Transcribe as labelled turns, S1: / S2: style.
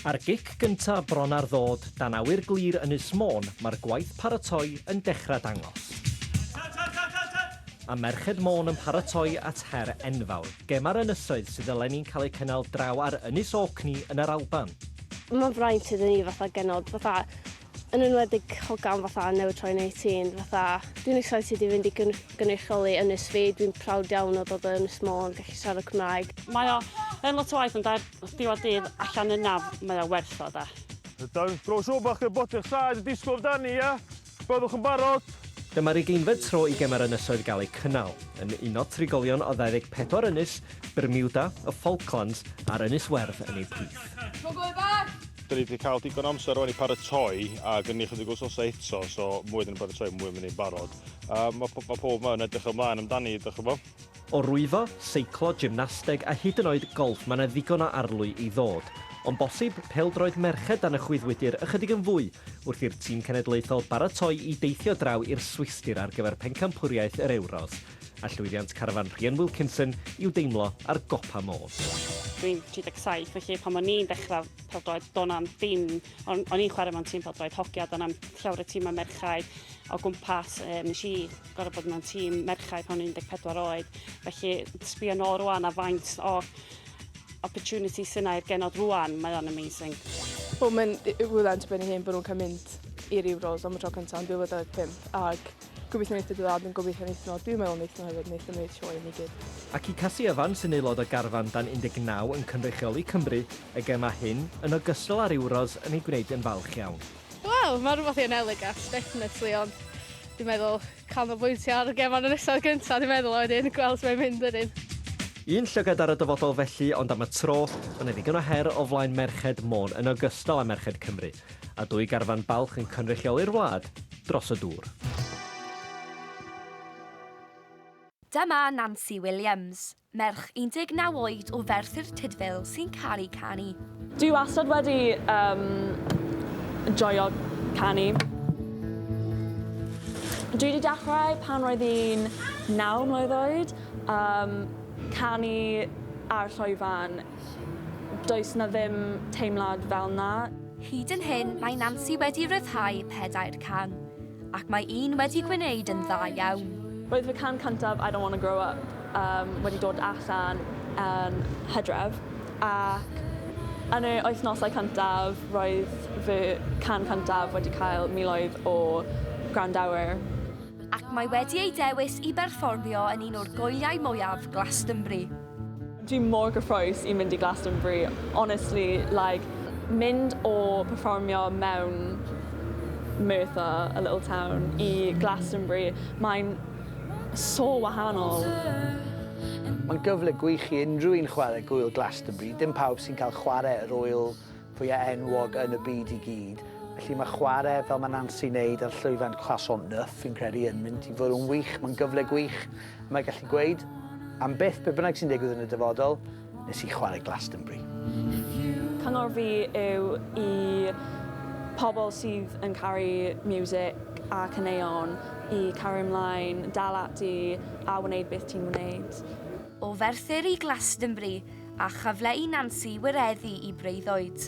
S1: Ar gic gynta bron ar ddod dan awyr glir Ynys Môn mae'r gwaith paratoi yn dechrau dangos. A Merched Môn yn paratoi at her enfawr, gem ar ynysoedd sydd eleni'n cael eu cynnal draw ar Ynys Orkney yn yr Alban. Mae'n fraint
S2: iddyn ni fatha genod, fatha yn enwedig hogan fatha newydd troi'n eighteen fatha dwi'n excited i fynd i gyn- gynrychioli ynys fi dwi'n proud iawn o dod o Ynys Môn gallu siarad Cymraeg. Mae o yn
S3: lot o waith ond ar diwedd dydd allan yna mae o werth o de. Dawns Bro
S4: Siŵr bod chi'n gwybod eich saed yn disgwyl amdani ie? Byddwch yn barod? Dyma'r ugeinfed
S1: tro i Gemau'r Ynysoedd gael eu cynnal, yn uno trigolion o 24 ynys, Bermuda, y Falklands a'r Ynys Werdd yn eu plith. Tro gorau bach!
S4: Da ni wedi cael digon amser rwan i paratoi a gen ni chydig wythnosau eto, so mwy da ni'n paratoi, mwy mynd i'n barod. A mae, mae pob yma yn edrych ymlaen amdani, ydych chi bod? O rwyfo,
S1: seiclo, gymnasteg a hyd yn oed golff mae yna ddigon o arlwy i ddod. Ond bosib, pêl-droed merched dan y chwyddwydr ychydig yn fwy wrth i'r tîm cenedlaethol baratoi i deithio draw i'r Swistir ar gyfer pencampwriaeth yr Ewros. a llwyddiant carfan Rhian Wilkinson i'w deimlo ar gopa Môn. Dwi'n
S3: 37 felly pan o'n i'n dechrau pêl-droed do' na'm dim o'n o'n i'n chwarae mewn tîm pêl-droed hoci a do' na'm llawer o timau merchaid o gwmpas yy nes i gor'o' bod mewn tîm merchaid pan o'n i'n 14 oed felly sbio nôl rŵan a faint o opportunity sy 'na i'r genod rŵan mae o'n amazing. Wel mae'n
S5: yy rywle'n dibynnu hen bo' nhw'n ca'l mynd i'r Euros am y tro cynta yn 2025 ag Gobeithio wneith dy dad yn gobeithio wneith nhw, dwi'n meddwl wneith nhw hefyd, wneith nhw wneud sioe i ni gyd. Ac i Casi Evans
S1: sy'n aelod o garfan dan 19 yn cynrychioli Cymru y gemau hyn, yn ogystal â'r Euros yn ei gwneud yn falch iawn. Wel, mae'n rhywbeth
S2: i anelu Gas, definitely, ond dwi'n meddwl canolbwyntio ar y gemau yn y nesaf gyntaf, dwi'n meddwl, a wedyn gweld sut mae'n mynd wedyn. Un llygad
S1: ar y dyfodol felly, ond am y tro, mae 'na ddigon o her o flaen merched Môn yn ogystal â merched Cymru. a dwy garfan balch yn cynrychioli'r wlad dros y dŵr.
S6: Dyma Nancy Williams, merch 19 oed o Ferthyr Tudful sy'n caru canu. Dwi wastad
S5: wedi um, joio canu. Dwi wedi dechrau pan roedd i'n naw mlwydd oed, um, canu ar llwyfan Does 'na ddim teimlad fel 'na. Hyd yn hyn
S6: mae Nansi wedi rhyddhau pedair can, ac mae un wedi gwneud yn dda iawn. Roedd fy can
S5: cyntaf 'I Don't Wanna Grow Up' wedi dod allan yn Hydref, ac yn yr wythnosau cyntaf roedd fy can cyntaf wedi cael miloedd o gwrandawyr. Ac
S6: mae wedi ei dewis i berfformio yn un o'r gwyliau mwyaf Glastonbury. Dwi
S5: mor gyffrous i mynd i Glastonbury, honestly, like, mynd o perfformio mewn Merthyr, a little town, i Glastonbury, mae'n so wahanol.
S7: Mae'n gyfle gwych i unrhyw un chwarae Gŵyl Glastonbury, dim pawb sy'n cael chwarae yr ŵyl fwya enwog yn y byd i gyd, felly mae chwarae fel mae Nancy'n neud ar llwyfan Croissant Neuf fi'n credu yn mynd i fod yn wych, mae'n gyfle gwych, mae gallu gweud am byth be bynnag sy'n digwydd yn y dyfodol, nes i chwarae Glastonbury.
S5: Cyngor fi yw i pobl sydd yn caru music a caneuon i cario ymlaen, dal ati a wneud beth ti'n wneud. O Ferthyr
S6: i Glastonbury a chyfle i Nancy wireddu i breuddwyd.